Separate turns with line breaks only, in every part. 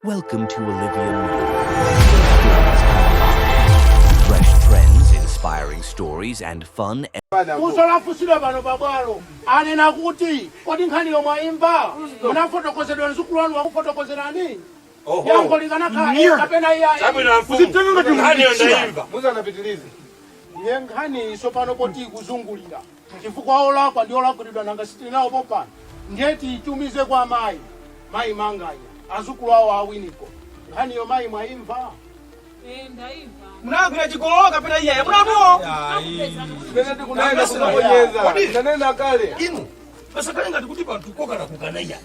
Welcome to Olivia Fresh trends, inspiring stories, and fun. Funso
lafunsidwa pano pabwalo anena kuti kodi nkhaniyo mwayimva munafotokozedwa mzukulu wanu wakufotokozerani yankho likanakhala eya kapena iyayi. musanapitilize nkhaniyi tsopano poti ikuzungulira Chifukwa olakwa ndi olakwiridwa nanga sitili nawo pompano ndiye tiitumize kwa mayi mayi manganya azukulu awo awiniko nkhaniyo mayi mwayimva
munagwira
chigololo kapena iyayi munamuwo
kodi
inu pasakhale ngati kuti panthu kokana kukana iyayi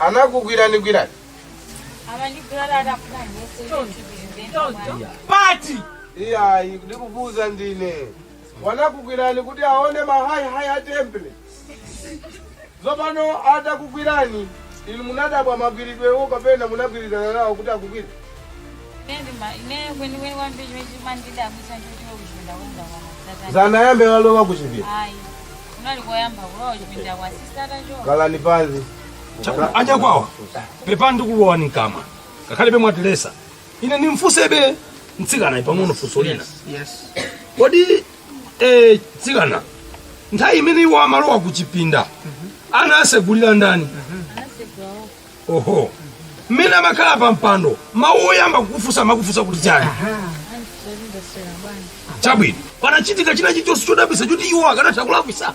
anakugwiranigwirani
pati
iyayi ndikuvuza ndine wanakugwirani kuti aone mahayihayi a temple zopano atakugwirani inu munadabwa magwiridwewo kapena munagwirizana nawo kuti
akugwire ine kwenikweni kwambiri chimene chimandidabwitsa ndichotiro kuchipinda kwanga kwamazatani zanayambe walowa
kuchipinda ayi
kunali koyamba kulowa kuchipinda kwa sisata cho khalani panzi
Chaku-
anyakwawa pepani ndikulowani mkamwa ngakhalebe mwatilesa ine ndimfusebe mtsikana pang'ono funso lina
kodi
eh, mtsikana nthawi imene iwo amalowa ku chipinda anawasegulira ndani oho mmene amakhala pa mpando mawu oyamba kukufunsa amakufunsa kuti chani chabwino panachitika china chilichonse chodabwisa choti iwo akanatha kulakwisa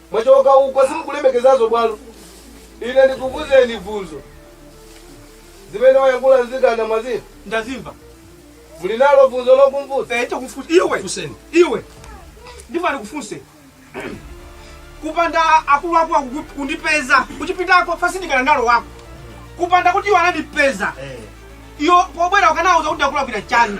Mwachoka uko simukulemekezazo bwalo. Ine ndikuvuzeni vuzo. Zimene wayankhula nzikana mwazimva. Ndazimva.
Muli
nalo vuzo lokumvuza. Eh, chakufusa iwe.
Mfuseni. Iwe. Ndipo ndikufunse. Kupanda akulu wako kundipeza. Kuchipindako fasindikana nalowako. Kupanda kuti wanandipeza. Eh. Iyo pobwera ukanawauza kuti ndakulakwira chani.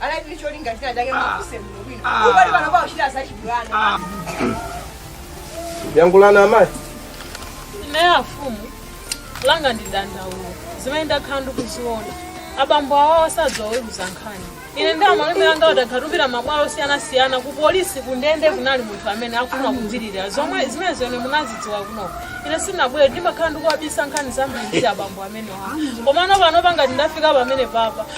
anali ndi cholinga china chake mfuseni
bwino ubali pano pauchita zachibwana yankhulani
amayi ine afumu langa ndi dandaulo zimene ndakhala ndikuziona abambo awawo sadzaweruza nkhani ine ndi amalume anga adakhatupira mabwalo osiyanasiyana ku polisi ku ndende kunali munthu amene akufuna kudzilirira zomwe zimenezo munazidziwa kuno ine sinabwere ndimakhala ndikuwabisa nkhani zambiri za abambo amenewa komano pano pangati ndafika pamene papa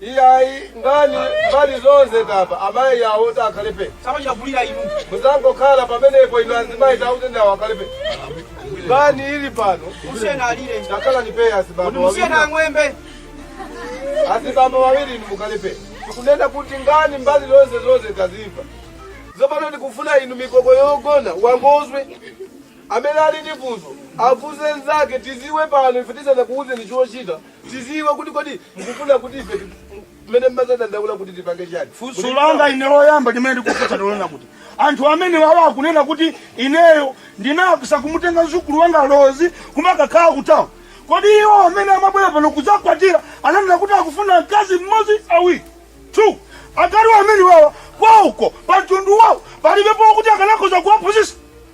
Iyayi nkhani mbali zonse tamva amayi awo takhale phee samachita
kulira inu
muzangokhala pamenepo inu azimayi tauzeni awo akhale phee nkhani ili pano musiyeni alire
takhalani phee kuti azibambo
musiyeni wawiri ang'wembe azibambo wawiri inu mukhale phee tikunena kuti nkhani mbali zonse zonse tazimva tsopano tikufuna inu mikoko yogona wangozwe amene ali ndi funso afunse nzake tiziwe pano ife tisanakuuzeni chochita tiziwe kuti kodi mukufuna kuti ife ti- mmene mmadzadandaula kuti tipange chani funso langa
ine loyamba limene ndikufunsa ndi lonena kuti anthu amene wawa akunena kuti ineyo ndinapisa kumutenga mzukulu wanga lozi kumakakhala kutawuni kodi iwo amene amabwera pano kudzakwatira ananena kuti akufuna mkazi mmodzi awiri two akazi amene wawa kwauko pa mtundu wawo palibepo kuti akanakhoza kuwaphunzitsa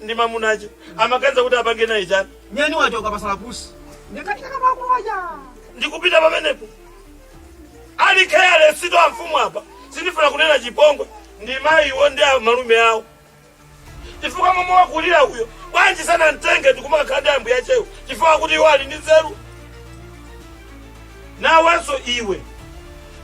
ndi mamunache amaganiza kuti apange naye chani nyani wachoka
pasala pusi nditatsika kama akulu aja ndikupita
pamenepo ali careless two amfumu apa sindifuna kunena chipongwe ndi mayiwo ndi amalume awo chifukwa momwe wakulira uyo bwanji sanamtenge ndikumakhala ndi ambuyachewo chifukwa kuti iwo ali ndi nzeru nawenso iwe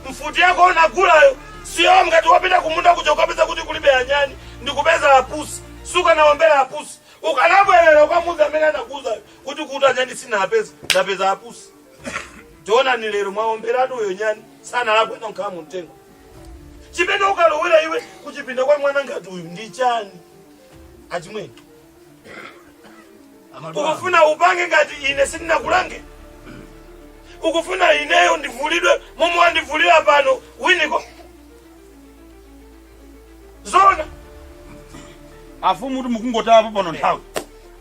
mfuti yako unagulayo siyo ngati wapita kumunda kuja n'kukapeza kuti kulibe anyani ndikupeza apusi sukanawombera apusi ukanabwerera n'kukamuuza amene anakuuzayo kuti kuti anyani sinapeza ndapeza apusi tionani lero mwaomberatu uyo nyani sanalakwe n'nokhala mu mtengo chimene ukulowera iwe kuchipinda kwa mwana ngati uyu ndi chani achimwene ukufuna upange ngati ine sindinakulange ukufuna ineyo ndivulidwe momwe wandivulira pano winiko
zona afumu kuti mukungotaya pano nthawi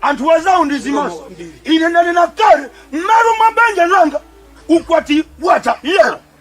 anthu wazawo ndi zimaso ine ndanena kale mmalo mwa banja langa ukwati wata yero